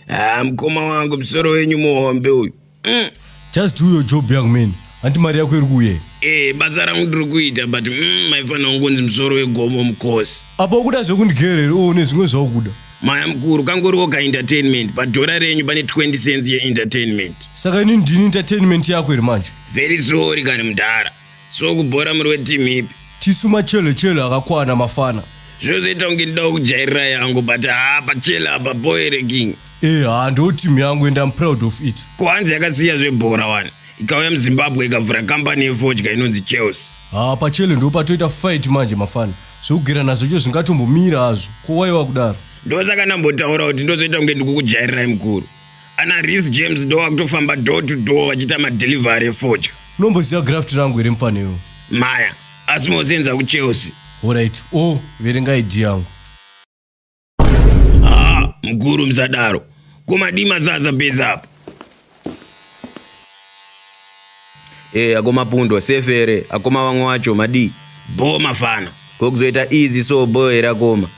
Ah, mkoma wangu msoro wenyu muhombe uyu mm. just do your job young man hanti mari yako iri kuye e eh, basa rangu ndiri kuita but mm, maifanira kungonzi msoro wegomo mukosi apa ukuda zvekundigerere o oh, nezvimwe zvaukuda Maya mkuru kangoriwo ka entertainment padhora renyu pane 20 cents ye entertainment. Saka ini ndini entertainment yako here manje? Very sorry kani mdhara. So kubhora muri weteam ipi? Tisu machele chele akakwana mafana. Zvozoita kunge ndidawo kujairira yangu but haa pachele apa boere king. Eh haa ndo team yangu and I'm proud of it. Ko hanzi yakasiya zvebhora wani. Ikauya muZimbabwe ikavhura company yefodya inonzi Chelsea. Haa pachele ndo patoita fight manje mafana. zvekugera nazvo cho zvingatombomira hazvo ko wai wakudaro ndosaka ndambotaura kuti ndozoita kunge ndikukujairirai mukuru ana ris james ndo vakutofamba do to do vachiita madelivery efodya unomboziva graft rangu here mufaniro maya asi mosenza kuchelsea horit o oh, verenga id yangu Ah, mkuru msadaro. Kuma dima zaza beza apa. Eh, ako mapundo sefere, ako mawango wacho madi. Bo mafana. Kokuzoita easy so bo era koma.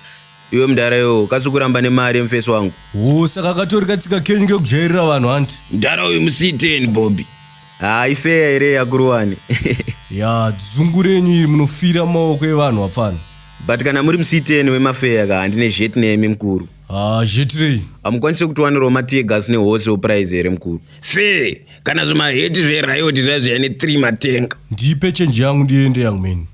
Iwe mdara yo, kasukuramba ne mari mfesi wangu. Oh, saka katori katsika kenyu kekujairira vanhu hanti. Mdara uyu musiteni Bobby. Ah, ifeya ere yakuruwani. ya dzungu renyu iri munofira maoko evanhu wapfana. but kana muri musiteni wemafeya ka handine zhet nemi mukuru ah, zhetirei hamukwanise kutiwanirawo mategas nehose oprize here mukuru fe kana zvimaheti zveriot zvazviya ne3 matenga ndipe chenji yangu ndiende young man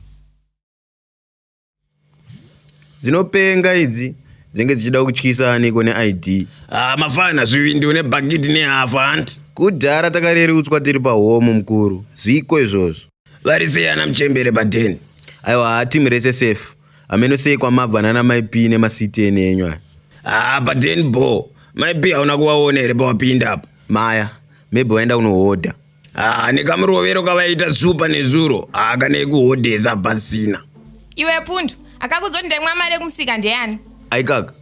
dzinopenga idzi dzenge dzichida kutyisa aniko neid ah, mafana zvivindi une bhakiti nehafu hanti kudhara takarerutswa tiri pahomu mukuru zviko izvozvo vari sei ana muchembere padeni aiwa haa timu rese safe ameno sei kwamabva nana maip nemasiti ene enyu aya haa padeni bo maip hauna kuvaona here pawapinda apa maya maybe vaenda kunohodha haa nekamurovero kavaiita zupa nezuro haa kanei kuhodhesa pasina iwe pundu akakudzoti ndaimwa mari yekumusika ndeyani aikaka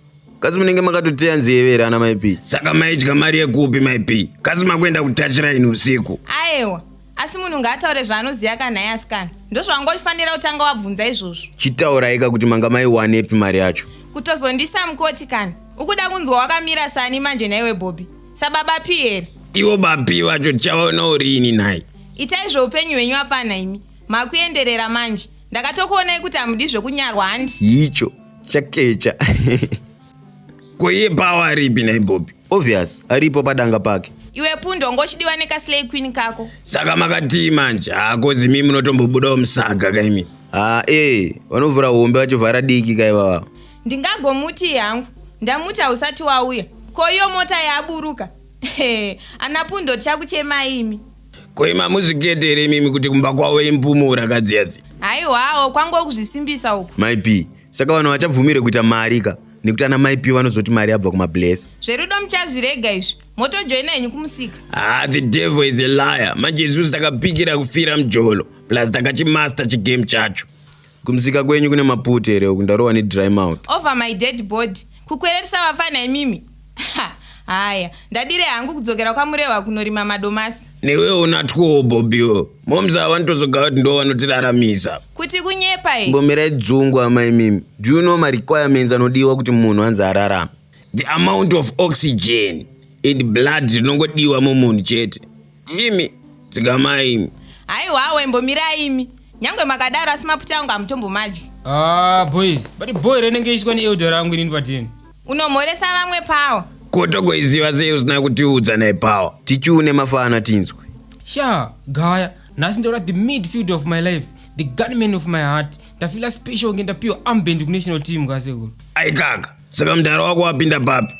kasi munenge makatoteya nzeve here ana maip saka maidya mari yekupi maip kasi makuenda kutachiraini usiku aewa asi munhu ngaataure zvaanoziva ka nhai asikana ndozvawanga uchifanira kutanga wabvunza izvozvo chitauraika kuti manga maiwanepi mari yacho kutozondisa mukoti kana ukuda kunzwa wakamira sani manje nhaiwe bhobi sababa pi here ivo bapi vacho tichavaona urini nhai itai zveupenyu hwenyu apfana imi makuenderera manje ndakatokuonai kuti hamudi zvekunyarwa handi icho chakecha koiye pawa ripi nhai bhobi obvious aripo padanga pake iwe pundo ngochidiwa nekaslay queen kako saka makatii manje hako zimi munotombobudawo musaga kaimi haa ee vanovhura hombe vachovhara diki kaivava ndingagomutii hangu ndamuti hausati wauya ko iyo mota yaburuka ana pundo tichakuchemai imi koima muzvikete here imimi kuti kumba kwavo impumura kadziyadzi haiwawo kwangokuzvisimbisa uku myp saka vanhu vachabvumirwe kuita mari ka nekuti ana mai piwa vanozoti mari yabva kumabless zverudo muchazvirega izvi motojoina henyu kumusika ah the devil is a liar manje isusu takapikira kufira mjolo plus takachimaster chigame chacho kumusika kwenyu kune maputi here uku ndarowa nedry mouth over my dead body kukwererisa vafana imimi Ha, haya ndadire hangu kudzokera kwamurehwa kunorima madomasi newe una two bobiwo moms ava nditozoga kuti ndo vanotiraramisa kuti kunyepa e mbomirai dzungu amai mimi do you know marequirements anodiwa kuti munhu anzi ararame the amount of oxygen and blood rinongodiwa mumunhu chete Imi dzikamai imi. Haiwawo imbomirai imi. Nyangwe makadaro asi maputa angu hamutombomadyi. Ah boys, but boy renenge ishwa ni elder rangu inini patini. Unomhoresa vamwe power. Ko togoiziva sei usina kutiudza naye power. Tichiune mafana tinzwe. Sha, gaya, nhasi ndaura the midfield of my life. The gunman of my heart. Ndafila special nge ndapiwa armband ku national team kasekuru. Aikaka, saka mdara wako wapinda papi?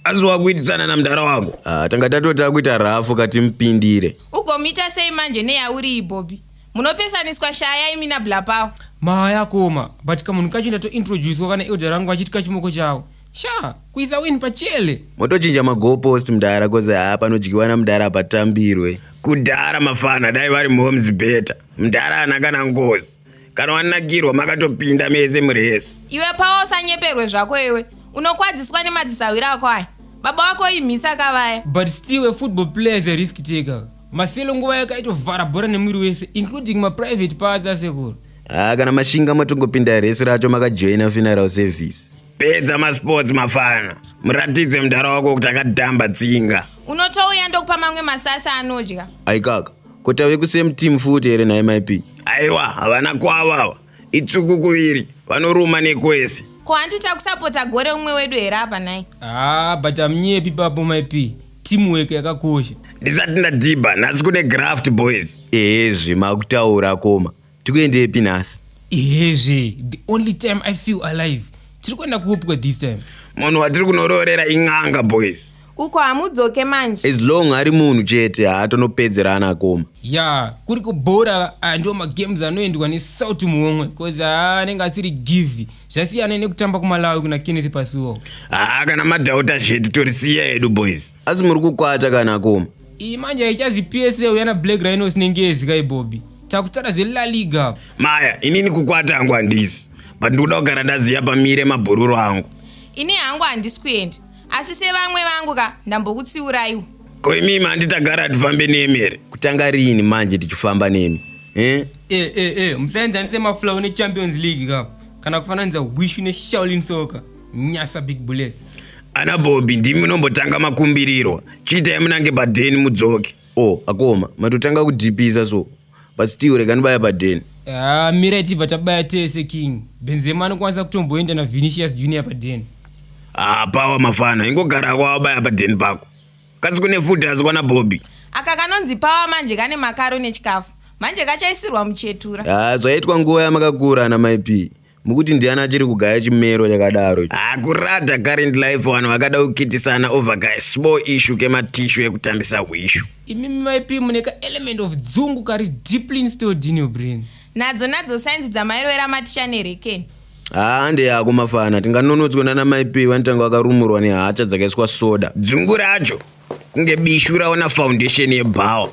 asi wakuitisana namdara wako ah, tanga tatota kuita rafu kati mupindire ugomuita sei manje neyauri ibobi munopesaniswa shaya imi nablapawo mahaya akoma but kamunhu kacho ndatointroducewa kana elder rangu achiti kachimoko chawo sha kuisa win pachele motochinja mago post mdara koze haa panodyiwa namdara patambirwe kudhara mafana dai vari moms better mdara ana kana ngozi kana wanakirwa makatopinda mese muresi iwe pawa usanyeperwe zvako iwe unokwadziswa nemadzisahwira ako aya baba wako imhitsa kavaya but still a football player is a risk taker maselo nguva yake aitovhara bhora nemwiri wese including maprivate parts asekuru haa ah, kana mashinga matongopinda resi racho makajoina funeral service pedza masports mafana muratidze mudhara wako kuti akadhamba tsinga unotouya ndokupa mamwe masasa anodya aikaka ko tave kusame team futi here nhai maipi aiwa havana kwavava itsuku kuviri vanoruma nekwese ko hanti takusapota gore umwe wedu here apa nhai haa ah, but amnyepi papo maipi teamwork yakakosha ndisati ndadhibha nhasi kune graft boys ehe zvima kutaura koma tikuendepi nhasi izvi the only time i feel alive tiri kuenda kuopwe this time munhu watiri kunoroorera in'anga boys uko hamudzoke manje as long ari munhu chete haatonopedzerana akoma ya kuri kubhora ah, ndiwo magames anoendwa nesalt muhomwe bcause ah, anenge asiri give zvasiyana nekutamba kumalawi kuna kenneth pasuo haa kana madhauta zvedu torisiya hedu boys asi muri kukwata kana akoma Iyi manje haichazi PSL yana Black Rhinos nengezi kai Bobby. Takutara zve La Liga. Maya, inini kukwata hangu handisi. But ndikuda kugara ndaziya pamire mabhururu angu. Ini hangu handisi kuenda. Asi sevamwe vangu ka ndambokutsiuraiwa. Ko imi mandi tagara tifambe nemi here? Kutanga rini manje tichifamba nemi? Eh? Eh eh eh, musaenzanise maflow ne Champions League ka. Kana kufananidza Wishu ne Shaolin Soccer. nyasa big bullets ana bobi ndimi munombotanga makumbiriro chiitai munange padheni mudzoke o oh, akoma matotanga kudhipisa so but still rega nibaya padheni ah, mira tibva tabaya tese king benzema anokwanisa kutomboenda navinicius junior padheni hapawa ah, mafana ingogara kwawabaya padheni pako kasi kune futi asi kwana bobi aka kanonzi pawa manje kane makaro nechikafu manje kachaisirwa muchetura ah, zvaitwa nguva yamakakura ana maipii mukuti ndiani achiri kugaya chimero chakadaro hakurata ah, current life vanhu vakada kukitisana over ka small issue kematishu ekutambisa hwishu imimi maip mune ka element of dzungu kari deeply installed in your brain nadzo nadzo sainzi dzamairovera maticha nerekeni haa ndeyako mafana tinganonotswa nana maip vanotanga vakarumurwa nehacha dzakaiswa soda dzungu racho kunge bishu raona foundation yebhawa